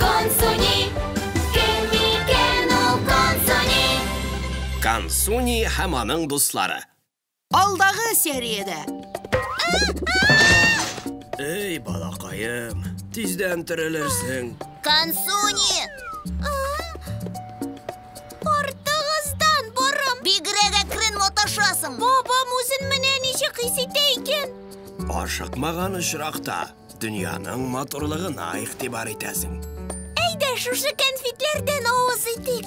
Консуни, кем микән ул Консуни? Консуни һәм аның дуслары. Алдагы сериядә. Эй, балакаем, тиздән терелерсең. Консуни! Артыгыздан борым! Бигрәк әкрен маташасың! Бабам үзен менә ничек хис итә икән? Ашыкмаган очракта Дөньяның матурлыгына игътибар итәсең. Әйдә, шушы конфетләрдән авыз итик.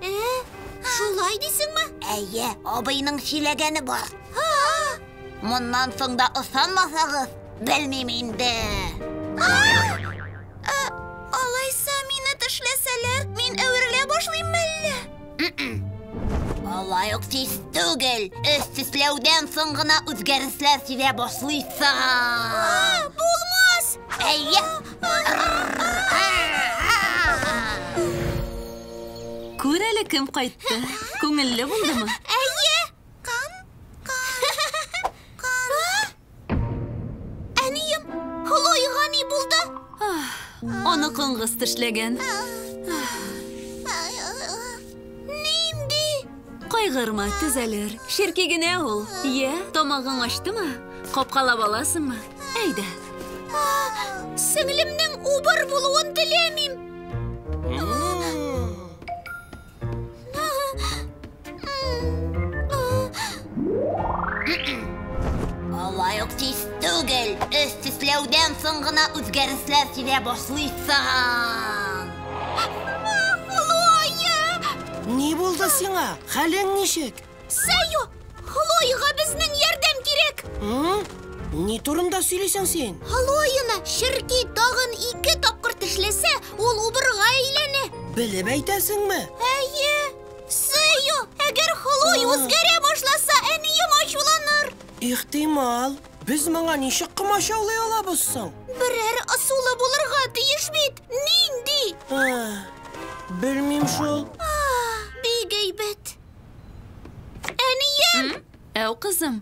Ә, шулай дисеңме? Әйе, абыйның чиләгәне бар. Моннан соң да ышанмасагыз, белмим инде. Ә, алайса мине тешләсәләр, мин әверелә башлыйм әллә? Алай ук тиз түгел. Өс тешләүдән соң гына үзгәрешләр сизә башлыйсың. Булмас! Әйе. Күр әле кем кайтты. Күңелле булдымы? Әйе! Кан, кан, кан. Әнием, Хлоега ни булды? Аны коңгыз тешләгән. Нинди? Кайгырма, төзәлер. Черки генә ул. Йә, тамагың ачтымы? Капкалап аласыңмы? Әйдә. Сеңлемнең убыр булуын теләмим. Алай ук тиз түгел. Өс тисләүдән соң гына үзгәрешләр килә башлыйсың. Ни булды сиңа? Хәлең ничек? Сәю! Хлоега безнең ярдәм кирәк! Ни турында сөйлисең син? Хлоена Ширки тагын ике тапкыр тешләсә, ул убырга әйләнә. Белеп әйтәсеңме? Әйе! Сәю, әгәр Хлой үзгәрә башласа, әнием ачуланыр. Ихтимал. Без моңа ничек комачаулый алабыз соң? Берәр ысулы булырга тиеш бит. Нинди? Белмим шул. Бик әйбәт. Әнием! Әу, кызым.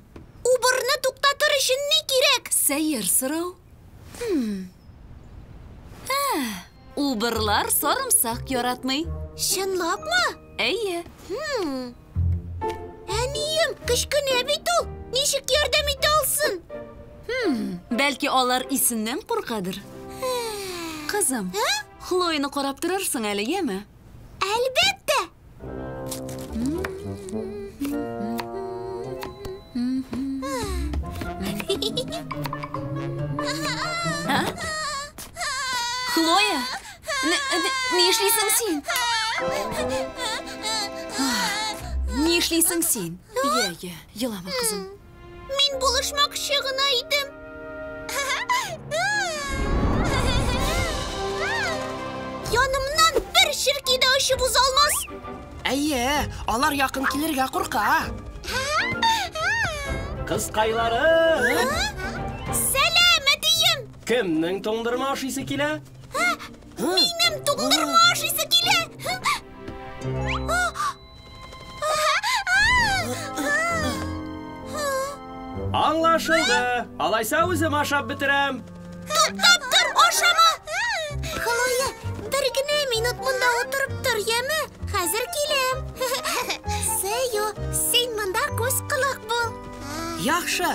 Убырны туктатыр өчен ни кирәк? Сәер сорау. Убырлар сарымсак яратмый. Чынлапмы? Әйе. Әнием, кечкенә бит ул. Ничек ярдәм итә алсын? Бәлки алар исеннән куркадыр? Кызым, Хлоены карап торырсың әле, яме? Әлбәттә! Хлоя, ни эшлисең син? Ни эшлисең син? Йә, йә, елама, кызым. Мин булышмакчы гына идем. Янымнан бер черки дә очып уза алмас. Әйе, алар якын килергә курка. Кызкайлары! Сәлам, әтием! Кемнең туңдырма ашыйсы килә? Минем туңдырма ашыйсы килә. Аңлашылды. Алайса үзем ашап бетерәм. Туктап тор, ашама. Хлоя, бер генә минут монда утырып тор, яме? Хәзер киләм. Сею, син монда күз колак бул. Яхшы.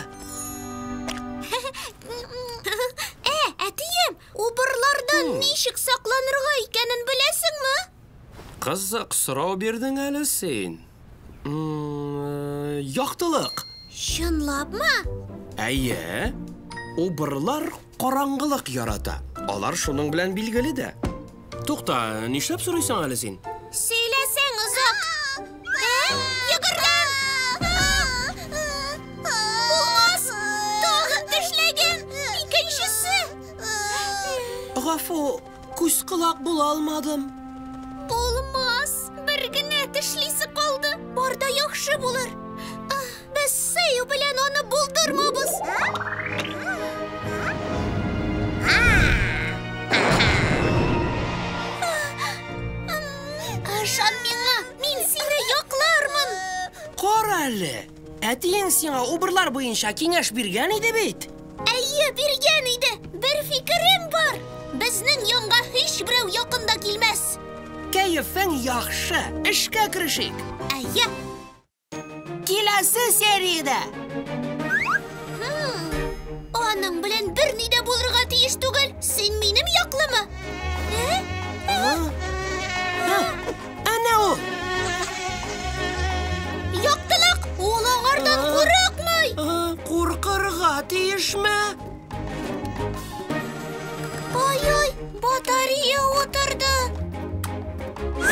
Ә, әтием, убырлардан ничек сакланырга икәнен беләсеңме? Кызык сорау бирдең әле син. Яктылык. Чынлапмы? Әйе. Убырлар караңгылык ярата. Алар шуның белән билгеле дә. Тукта, нишләп сорыйсың әле син? Сөйләсәң озак. Гафу, Күз колак була алмадым. Булмас, бер генә тешлисе калды. Барда яхшы булыр. Без сыю белән аны булдырмабыз. Ышан миңа, мин сине яклармын. Кара әле. Әтиең сиңа убырлар буенча киңәш биргән иде бит. Әйе, биргән иде. Бер фикерем бар. Безнең янга һич берәү якында килмәс. Кәефең яхшы. Эшкә керешик. Әйе. Киләсе сериядә. Хм. Аның белән берни дә булырга тиеш түгел. Син минем яклымы? Ә? Ә? Әнә ул! Яктылык! Ул аңардан курыкмый! Куркырга тиешме? Ай-ай, батарея утырды!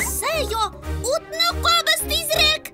Сэйо, утны кабыз тизрәк!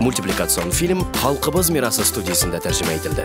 Мультипликацион фильм Халкыбыз мирасы студиясендә тәрҗемә ителде.